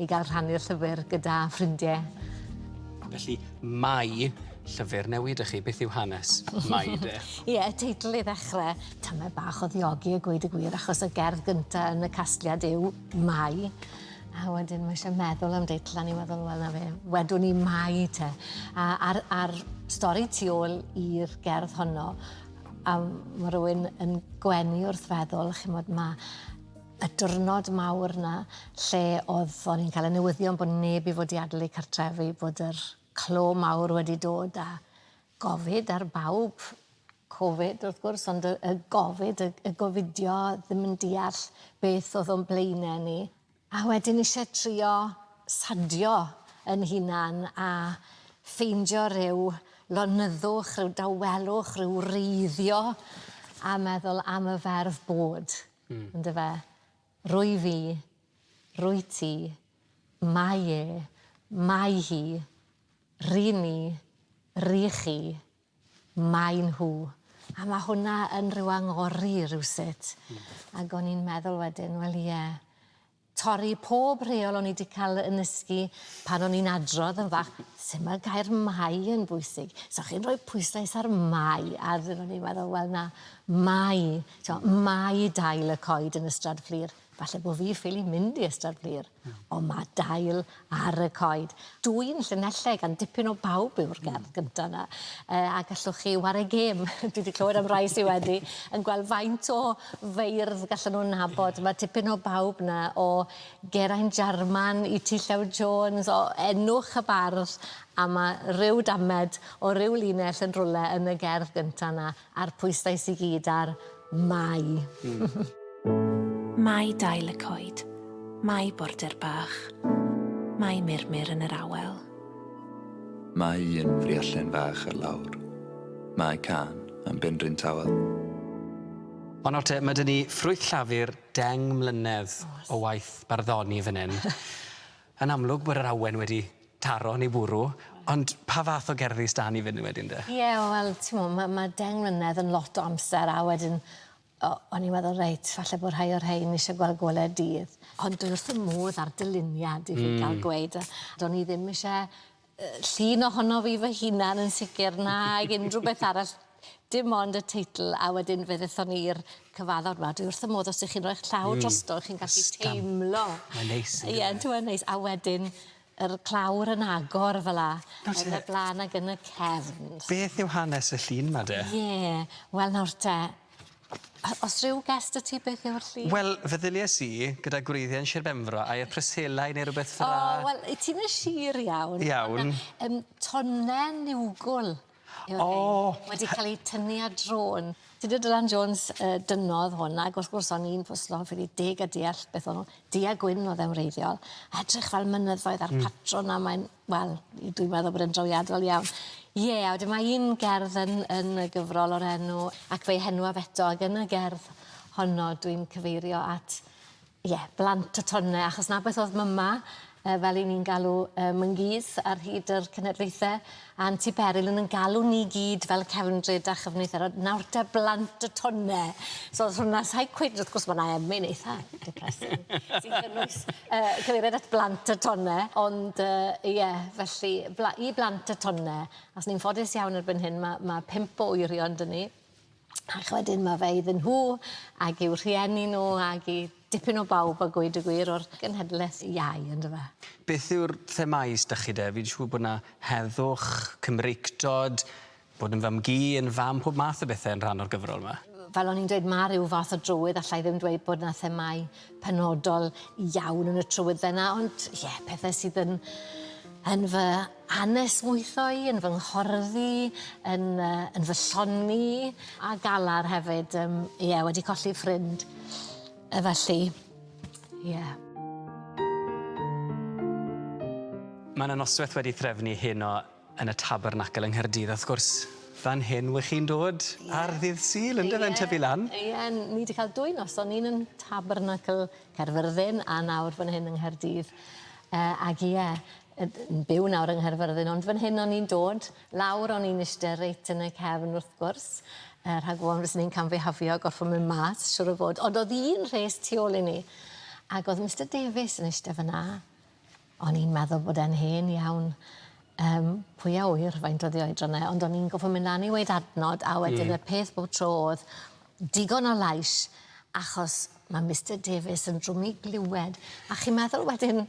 I gael rhannu'r llyfr gyda ffrindie. Felly, Mai, llyfr newydd i chi. Beth yw hanes Mai de? Ie, y teitl i ddechrau, tyme bach o ddiogi a gweud y gwir, achos y gerdd gyntaf yn y casgliad yw Mai. A wedyn mae eisiau meddwl am deitl, a ni'n meddwl, wel na fe, wedwn ni Mai te. A, a'r, a'r stori tu ôl i'r gerdd honno, a mae rhywun yn gwenu wrth feddwl, chimod, mae y diwrnod mawr 'na lle oedd o'n i'n cael y newyddion bod neb i fod i adael eu cartrefi, bod yr clo mawr wedi dod a gofid ar bawb. Covid wrth gwrs ond y y gofid y y gofidio ddim yn deall beth oedd o'n blaene ni. A wedyn isie trio sadio 'yn hunan a ffeindio ryw lonyddwch, ryw dawelwch, ryw wreiddio a meddwl am y ferf bod. Yndyfe? Rwyf i. Rwyt ti. Mae e. Mae hi. Ry'n ni. Rych chi. Maen nhw. A mae hwnna yn rhyw angori rywsut. Ac o'n i'n meddwl wedyn, wel ie, Torri pob rheol o'n i 'di cael yn nysgu pan o'n i'n adrodd yn fach. Sut mae'r gair 'mae' yn bwysig? So chi'n rhoi pwyslais ar 'mae', a ro'n i'n meddwl, wel na, 'mae', t'mo', 'mae' dail y coed yn Ystrad Fflur. Falle bo' fi ffili mynd i Ystrad Fflur. Ond ma' dail Ar y coed. Dw i'n Llanelleg a'n dipyn o bawb yw'r gerdd gynta' 'na. Yy a gallwch chi ware gêm dwi 'di clywed am rai sy wedi yn gweld faint o feirdd gallan nw nabod. Ie. Ma' tipyn o bawb 'na o Geraint Jarman i T Llew Jones o enwch y bardd a ma' ryw damed o ryw linell yn rwle yn y gerdd gynta' 'na. A'r pwysau sy gyd ar Mai. Mai dail y coed, Mai border bach, Mai murmur yn yr awel. Mai un friallen fach ar lawr, Mai cân am Benrhyn Tawel. O nawr te, ma' 'da ni ffrwyth llafur deng mlynedd o waith barddoni fan hyn. Yn amlwg bod yr awen wedi taro neu bwrw, ond pa fath o gerddi sdan ni fyn 'yn wedyn de? Ie, wel, t'mo', ma' ma' deng mlynedd yn lot o amser a wedyn o- o'n i'n meddwl reit, falle bo' rhai o rhein isie gweld gole'r dydd, ond dwi wrth fy modd â'r dyluniad i fi ga'l gweud, a do'n i ddim isie Llun ohono fi fy hunan yn sicir nag unrhyw beth arall dim ond y teitl a wedyn fe ddethon ni i'r cyfaddawr 'ma dwi wrth fy modd os 'dych chi'n roi'ch llaw drosto chi'n gallu teimlo... Ysgafn. Mae'n neis on'd yw e? Ie on'd yw e'n neis a wedyn yr clawr yn agor fel 'a. Nawr te... Yn y bla'n ag yn y cefn. Beth yw hanes y llun 'ma de? Ie wel nawr te A os ryw gest y ti beth yw'r llu? Wel feddylies i gyda gwreiddiau'n Sir Benfro a i'r preselau neu rwbeth fel 'a. O wel i ti yn y sir iawn. Iawn. Ond yy yym tone niwgwl yw'r rhein. O! Wedi ca'l 'u tynnu ar drôn. Tudur Dylan Jones yy dynnodd hwn ag wrth gwrs o'n i'n pwslo fi 'di deg a deall beth o'n n'w du a gwyn o'dd e'n wreiddiol a edrych fel mynyddoedd a'r patrwn a mae'n Wel i- dwi'n meddwl bod e'n drawiadol iawn. Ie a wedyn mae un gerdd yn yn y gyfrol o'r enw Ac Fe'i Henwaf Eto ag yn y gerdd honno dwi'n cyfeirio at ie blant y tone achos 'na beth o'dd Mama yy fel 'yn ni'n galw yy Mangîs ar hyd yr cenedlaethe a'n tŷ Beryl yn 'yn galw ni gyd fel cefndryd a chyfnither a nawr 'te blant y tone so o'dd hwnna sai cweit wrth gwrs ma' 'na emyn eitha depressing sy'n cynnwys uh, cyfeiriad at blant y tonne, ond uh, ie, felly bla, i blant y tonne, os ni'n ffodus iawn erbyn hyn, mae ma pimp o wyrion dyn ni, ac wedyn mae fe iddyn nhw ac i'w rhieni nhw ac i dipyn o bawb a gweud y gwir o'r genhedlaeth iau, ynddo fe? Beth yw'r themau ysdych chi de? Fi'n siŵr bod yna heddwch, cymreictod, Bod yn fam-gu yn fam pob math o bethe yn rhan o'r gyfrol 'ma. Fel o'n i'n dweud ma' ryw fath o drywydd alla i ddim dweud bod 'na themâu penodol iawn yn y trywydd fenna ond ie pethe sydd yn yn fy anesmwytho i yn fy nghorddi yn yy yn fy llongi a galar hefyd yym ie wedi colli ffrind yy felly ie. Ma' 'na nosweth wedi threfnu heno Yn y Tabernacl yng Nghaerdydd a wrth gwrs fan hyn wych chi'n dod ar ddydd Sul yndyfe yn tyfu lan? Ie ni 'di cael dwy noson un yn Tabernacl Caerfyrddin a nawr fan hyn yng Nghaerdydd yy ag ie yy yn byw nawr yng Nghaerfyrddin ond fan hyn o'n i'n dod lawr o'n i'n ishte reit yn y cefn wrth gwrs yy rhag ofon fyswn i'n camfihafio gorffo mynd mas siŵr o fod ond o'dd un rhes tu ôl i ni ag o'dd Mister Davies yn ishte fynna O'n i'n meddwl bod e'n hen iawn. Yym, pwy a ŵyr faint oddi oedran e, ond o'n i'n gorffo myn' lan i weud adnod a wedyn... Hmm. ...y peth bob tro o'dd digon o lais achos ma' Mister Davies yn drwm i glywed a chi'n meddwl wedyn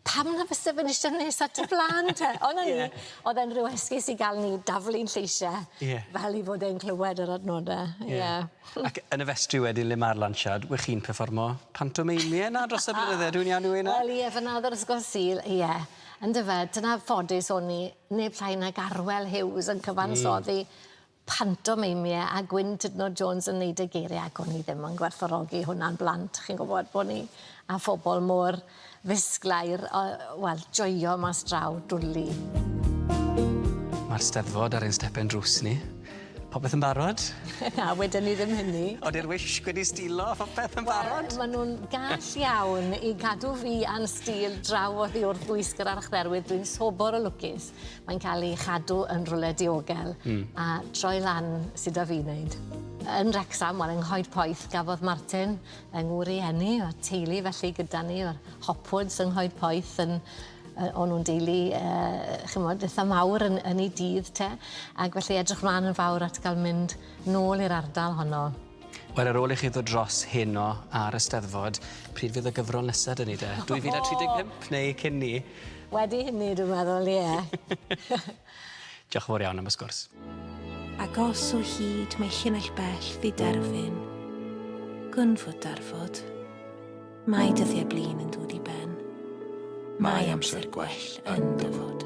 pam na fyse fe'n iste nes at y flân te? On' o'n i... Ie. ...o'dd e'n ryw esgus i ga'l ni daflu'n lleisia... Ie. ...fel 'i fod e'n clywed yr adnode. Ie. Ie. Ac yn y festri wedyn le ma'r lansiad we' chi'n perfformo pantomeimie 'na dros y blynydde dwi'n iawn Ewena? Wel ie fyn 'na o'dd yr ysgol Sul ie yndyfe dyna ffodus o'n i neb llai nag Arwel Hughes yn cyfansoddi... Hmm. ...pantomeimie a Gwyn Tudno Jones yn neud y geirie ac o'n i ddim yn gwerthfawrogi hwnna'n blant chi'n gwbod bo' ni â phobol mor Fisglair, o, wel, joio mas draw, dwli. Mae'r Steddfod ar ein stepen drws ni. Popeth yn barod? Na, wedyn ni ddim hynny. Ond i'r wisg wedi stilo, popeth yn barod? Wel, maen nhw'n gall iawn i gadw fi a'n stil draw oddi wrth wisg yr archdderwydd. Dwi'n sobor o lwcus. Mae'n cael ei chadw yn rwle diogel. Mm. A troi lan sydd â fi wneud. Yn Wrecsam, wel, yng Nghoed Poeth, gafodd Martin Yng ngwrieni a teulu felly gyda ni yw'r Hopwoods yng Nghoed Poeth yn yy o'n nhw'n deulu yy ch'mod itha mawr yn yn eu dydd te ac felly edrych mlan yn fawr at ga'l mynd nôl i'r ardal honno. Wel ar ôl i chi ddod dros heno a'r Eisteddfod pryd fydd y gyfrol nesa 'da ni de? 2035 neu cyn 'ny? Wedi hynny dwi'n meddwl ie. Diolch yn fawr iawn am y sgwrs. Agos o hyd mae llinell bell ddiderfyn. Gwn fod darfod. Mae dyddiau blin yn dod i ben. Mae amser gwell yn dyfod.